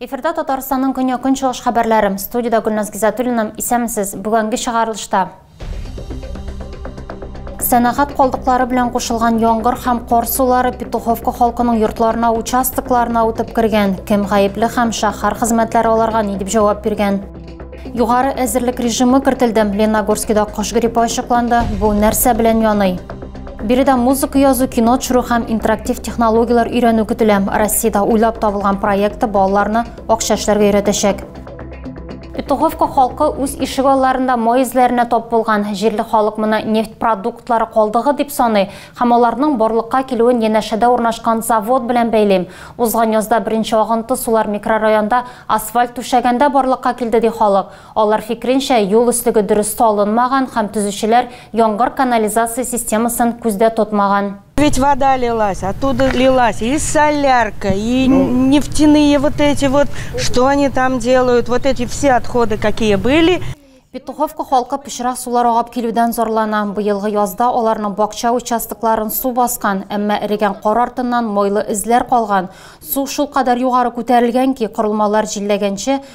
Эфирда Татарстанның көньяк-көнчыгыш хәбәрләре. Студиядә Гөлназ Гизатуллина. Исәнмесез. Бүгенге чыгарылышта Сәнәгать калдыклары белән кушылган яңгыр һәм кар сулары Петуховка халкының йортларына, участокларына үтеп кергән. Кем гаепле һәм шәһәр хезмәтләре аларга ни дип җавап биргән? Югары әзерлек режимы кертелде. Леногорскида кош гриппы ачыкланды. Бу нәрсә белән яный? Биредә музыка язу, кино төшерү һәм интерактив технологияләр өйрәнү көтелә. Россиядә уйлап табылган проекты балаларны акча эшләргә өйрәтәчәк. Петуховка халкы үз ишек алларында май эзләренә тап булган җирле халык моны нефть продуктлары калдыгы дип саный һәм аларның барлыкка килүен янәшәдә урнашкан завод белән бәйлим. Узган язда беренче агынты сулар микрорайонда асфальт түшәгәндә барлыкка килде ди халык. Алар фикренчә, юл өслеге дөрес салынмаган һәм төзүчеләр яңгыр канализация системасын күздә тотмаган. Ведь вода лилась, оттуда лилась и солярка, и ну, нефтяные вот эти вот, что они там делают, вот эти все отходы, какие были. Петуховка халкы пычрак сулар агып килүдән зарлана. Быелгы язда аларның бакча участокларын су баскан, әмма эрегән кар артыннан майлы эзләр калган. Су шул кадәр югары күтәрелгән ки, корылмалар җилләгәнче,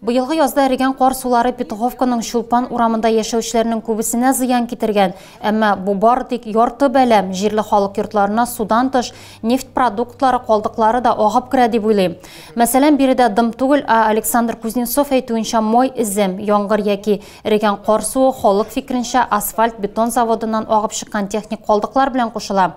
Быелгы язда эрегән кар сулары Петуховканың Чулпан урамында яшәүчеләрнең күбесенә зыян китергән, әмма бу бары тик ярты бәла, җирле халык йортларына судан тыш, нефть продуктлары калдыклары да агып керә дип уйлыйм. Мәсәлән, биредә дым түгел, ә Александр Кузнецов әйтүенчә май эзе, яңгыр яки эрегән кар суы халык фикеренчә асфальт-бетон заводыннан агып чыккан техник калдыклар белән кушыла.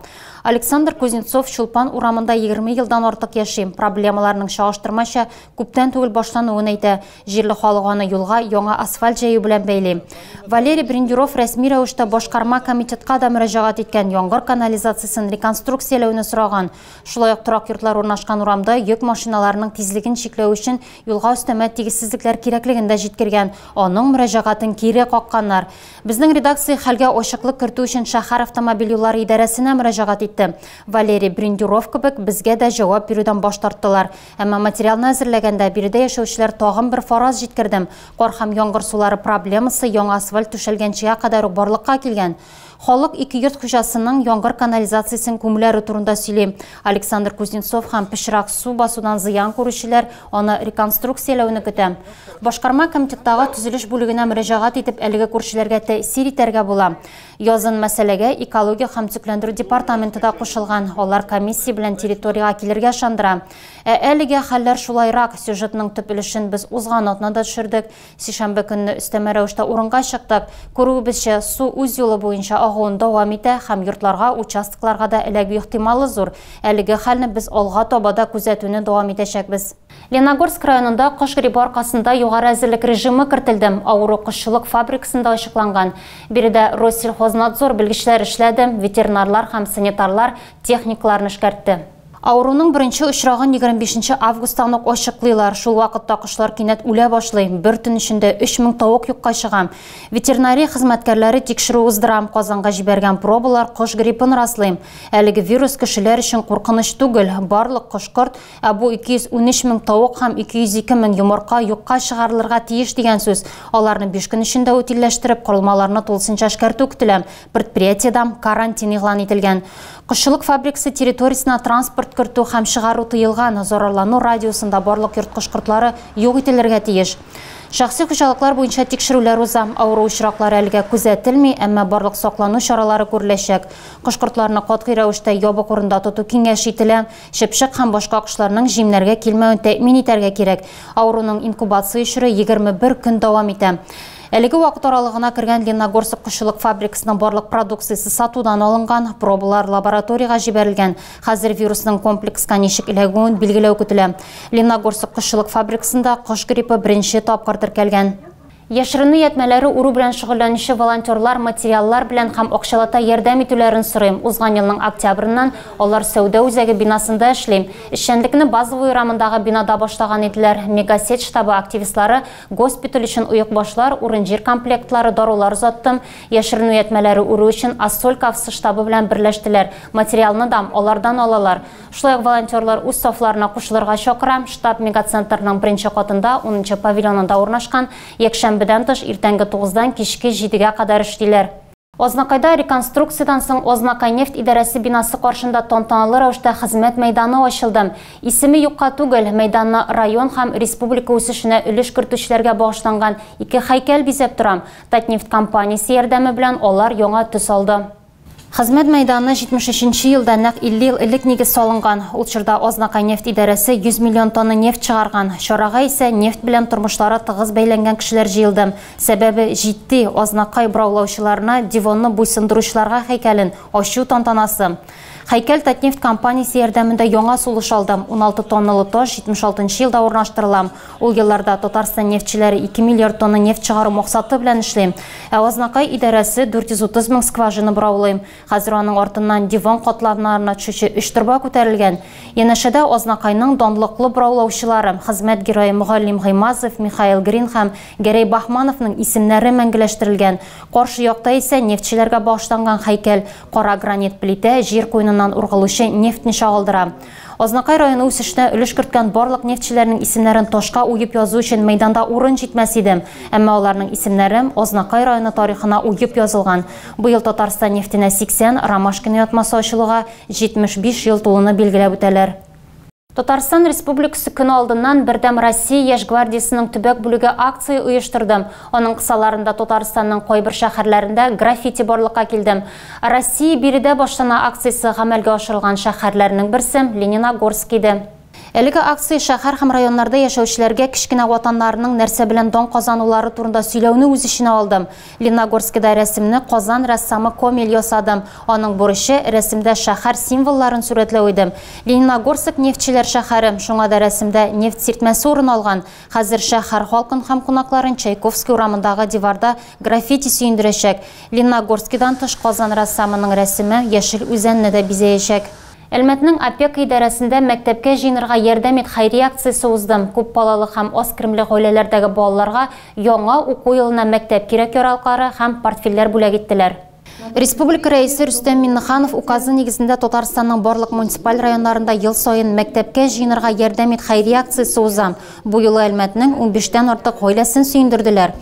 Александр Кузнецов Чулпан урамында егерме елдан артык яши, проблемаларның чагыштырмача Күптән түгел башлануын әйтә. Җирле халык аны юлга яңа асфальт җәю белән бәйли. Валерий Брендюров рәсми рәвештә башкарма комитетка да мөрәҗәгать иткән, яңгыр канализациясен реконструкцияләүне сораган. Шулай ук торак йортлар урнашкан урамда йөк машиналарының тизлеген чикләү өчен юлга өстәмә тигезсезлекләр кирәклеген дә җиткергән. Аның мөрәҗәгатен кире какканнар. Безнең редакция хәлгә ачыклык кертү өчен шәһәр автомобиль юллары идарәсенә мөрәҗәгать итте. Валерий Брендюров кебек, безгә дә җавап бирүдән баш тарттылар. Әмма материалны әзерләгәндә биредә яшәүчеләр тагын бер фараз җиткердем. Кар һәм яңгыр сулары проблемасы яңа асфальт түшәлгәнчегә кадәр үк барлыкка килгән. Халык ике йорт хуҗасының яңгыр канализациясен күмүләре турында сөйли. Александр Кузнецов һәм пычрак су басудан зыян күрүчеләр аны реконструкцияләүне көтә. Башкарма комитеттагы төзелеш бүлегенә мөрәҗәгать итеп әлеге күршеләргә тәэсир итәргә була. Язын мәсьәләгә экология һәм төзекләндерү департаменты да кушылган. Алар комиссия белән территориягә килергә ышандыра. Ә әлегә хәлләр шулайрак. Сюжетның төп өлешен без узган атнада төшердек. Сишәмбе көнне өстәмә рәвештә урынга чыктык. Күрүебезчә, су үз юлы буенча агуын дәвам итә һәм йортларга, участокларга да эләгү ихтималы зур. Әлеге хәлне без алга таба да күзәтүне дәвам итәчәкбез. Леногорск районында кош грибы аркасында югары әзерлек режимы кертелде. Авыру кошчылык фабрикасында ачыкланган. Биредә Россельхознадзор белгечләре эшләде, ветеринарлар һәм санитарлар техникаларны эшкәртте. Авыруның беренче очрагын 25 нче августтан ук ачыклыйлар. Шул вакытта кошлар кинәт үлә башлый. Бер төн эчендә 3000 тавык юкка чыга. Ветеринария хезмәткәрләре тикшерү уздыра. Казанга җибәргән пробалар кош гриппын раслый. Әлеге вирус кешеләр өчен куркыныч түгел. Барлык кош-корт Ә бу 213 мең тавык һәм 202 мең йомырка юкка чыгарылырга тиеш дигән сүз. Аларны 5 көн эчендә утилләштереп, корылмаларны тулысынча эшкәртү көтелә. Предприятиедә карантин игълан ителгән. Кошчылык фабрикасы территориясенә транспорт кертү һәм чыгару тыелган, зарарлану радиусында барлык ерткыч кортлары юк ителергә тиеш. Шәхси хуҗалыклар буенча тикшерүләр уза. Авыру очраклары әлегә күзәтелми, әмма барлык саклану чаралары күреләчәк. Кош-кортларны катгый рәвештә ябык урында тоту киңәш ителә. Чыпчык һәм башка кошларның җимнәргә килмәвен тәэмин итәргә кирәк. Авыруның инкубация чоры 21 көн дәвам итә. Әлеге вакыт аралыгына кергән Ленногорск кошчылык фабрикасының барлык продукциясе сатудан алынган, пробалар лабораториягә җибәрелгән. Хәзер вирусның комплекска ничек эләгүен билгеләү көтелә. Ленногорск кошчылык фабрикасында кош гриппы беренче тапкыр теркәлгән. Яшеренү ятьмәләре уру белән шөгыльләнүче волонтерлар материаллар белән һәм акчалата ярдәм итүләрен сорыйм, узган елның октябреннән алар сәүдә үзәге бинасында эшли. Эшчәнлекне Базовый урамындагы бинада башлаган иделәр. Мегасеть штабы активистлары госпиталь өчен оекбашлар, урын-җир комплектлары, дарулар озаттым. Яшеренү ятьмәләре үрү өчен Ассоль КАФСы штабы белән берләштеләр. Материалны дам алардан алалар. Шулай ук волонтерлар үз сафларына кушылырга чакырам. Штаб мегацентрның беренче катында, унынчы павильонында урнашкан. Якшәмбедән тыш, иртәнге тугыздан кичке җидегә кадәр эшлиләр. Азнакайда реконструкциядән соң Азнакайнефть идарәсе бинасы каршында тантаналы рәвештә хезмәт мәйданы ачылды. Исеме юкка түгел, мәйданны район һәм республика үсешенә өлеш кертүчеләргә багышланган ике һәйкәл бизәп тора. Татнефть компаниясе ярдәме белән алар яңа төс алды. Хезмәт мәйданы 73 нче елда, нәкъ 50 ел элек нигез салынган. Ул чорда Азнакайнефть идарәсе 100 миллион тонна нефть чыгарган. Чарага исә нефть белән тормышлары тыгыз бәйләнгән кешеләр җыелды. Сәбәбе, җитди, Азнакай бораулаучыларына Девонны буйсындыручыларга һәйкәлен ачу тантанасы. Һәйкәл Татнефть компаниясе ярдәмендә яңа сулыш алды. 16 тонналы таш 76 нчы елда урнаштырыла. Ул елларда Татарстан нефтьчеләре ике миллиард тонна нефть чыгару максаты белән эшли. Ә Азнакай идарәсе 430 мең скважина бораулый. Хәзер аның артыннан диван катларнарына төшүче өч торба күтәрелгән. Янәшәдә Азнакайның данлыклы бораулаучылары, хезмәт герое Мөгаллим Гыймазов, Михаил Грин һәм Гәрәй Баһмановның исемнәре мәңгеләштерелгән. Каршы якта исә нефтьчеләргә багышланган һәйкәл, кара гранит плитә, җир куеныннан ургылучы нефтьне чагылдыра. Азнакай районы үсешенә өлеш керткән барлык нефтьчеләрнең исемнәрен ташка уеп язу өчен мәйданда урын җитмәс иде. Әмма аларның исемнәрем Азнакай районы тарихына уеп язылган. Быел Татарстан нефтенә 80, Ромашкино ятмасы ачылуга 75 ел тулуны билгеләп үтәләр. Татарстан Республикасы көне алдыннан Бердәм Россия яшь гвардиясенең төбәк бүлеге акция оештырды. Аның кысаларында Татарстанның кайбер шәһәрләрендә граффити барлыкка килде. Россия биредә башлана акциясе гамәлгә ашырылган шәһәрләрнең берсе, Лениногорск иде. Әлеге акция шәһәр һәм районнарда яшәүчеләргә кечкенә ватаннарының нәрсә белән дан казанулары турында сөйләүне үз эченә алды. Лениногорскида рәсемне Казан рәссамы Комель ясады. Аның бурычы, рәсемдә шәһәр символларын сурәтләү иде. Лениногорск нефтьчеләр шәһәре, шуңа да рәсемдә нефть сиртмәсе урын алган. Хәзер шәһәр халкын һәм кунакларын Чайковский урамындагы диварда граффити сөендерәчәк. Ленногорскидан тыш Казан рәссамының рәсеме Яшел Үзәнне дә бизәячәк. Әлмәтнең опека идарәсендә Мәктәпкә җыенырга ярдәм ит хәйрия акциясе узды. Күпбалалы һәм аз керемле гаиләләрдәге балаларга яңа уку елына мәктәп кирәк-яралклары һәм портфельләр бүләк иттеләр. Республика Рәисе Рөстәм Миңнеханов указы нигезендә Татарстанның барлык муниципаль районнарында ел саен Мәктәпкә җыенырга ярдәм ит хәйрия акциясе уза. Бу юлы Әлмәтнең унбиштән артык гаиләсен сөендерделәр.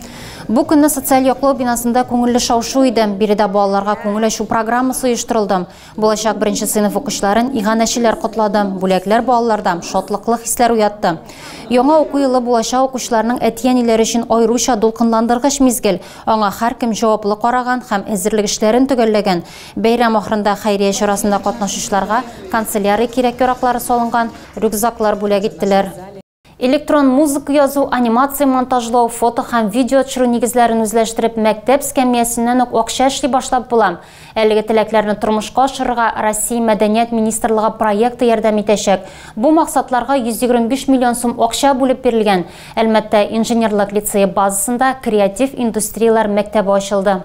Бу көнне социаль яклау бинасында күңелле шау-шу иде. Биредә балаларга күңел ачу программасы оештырылды. Булачак беренче сыйныф укучыларын иганәчеләр котлады. Бүләкләр балаларда шатлыклы хисләр уятты. Яңа уку елы булачак укучыларның әти-әниләре өчен аеруча дулкынландыргыч мизгел. Аңа һәркем җаваплы караган һәм әзерлек эшләрен төгәлләгән. Бәйрәм ахырында хәйрия чарасында катнашучыларга канцелярия кирәк-яраклары салынган рюкзаклар бүләк иттеләр. Электрон музыка язу, анимация монтажлау, фото һәм видео төшерү нигезләрен үзләштереп, мәктәп эскәмиясеннән үк акча эшли башлап була. Әлеге теләкләрне тормышка ашырырга Россия Мәдәният министрлыгы проекты ярдәм итәчәк. Бу максатларга 125 миллион сум акча бүлеп бирелгән. Әлмәттә Инженерлык лицее базасында Креатив индустрияләр мәктәбе ачылды.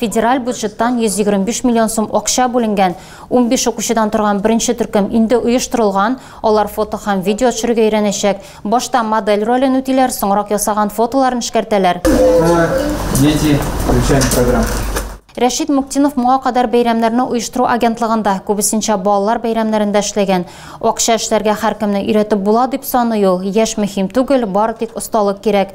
Федераль бюджеттан 125 миллион сум акча бүленгән. Унбиш укучыдан торган беренче төркем инде оештырылган. Алар фото һәм видео төшерергә өйрәнәчәк. Башта модель ролен үтиләр, соңрак ясаган фотоларын эшкәртәләр. Школа, дети, включаем программу. Рәшит Муктинов моңа кадәр бәйрәмнәрне оештыру агентлыгында, күбесенчә балалар бәйрәмнәрендә эшләгән. Акча эшләргә һәркемне өйрәтеп була дип саный ул. Яшь мөһим түгел, бары тик осталык кирәк.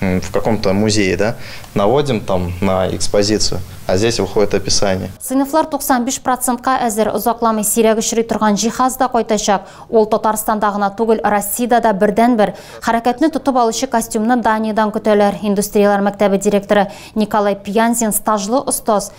в каком-то музее, да, наводим там на экспозицию, а здесь выходит описание. Сыйныфлар 95 процентка әзер, озакламый сирәк очрый торган җиһаз да кайтачак. Ул Татарстанда гына түгел, Россиядә дә бердәнбер. Хәрәкәтне тотып алучы костюмны Даниядән көтәләр. Индустрияләр мәктәбе директоры Николай Пьянзин стажлы остаз.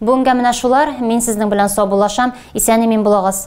Бүгенгә менә шулар, мин сезнең белән саубуллашам, исән-имин булыгыз.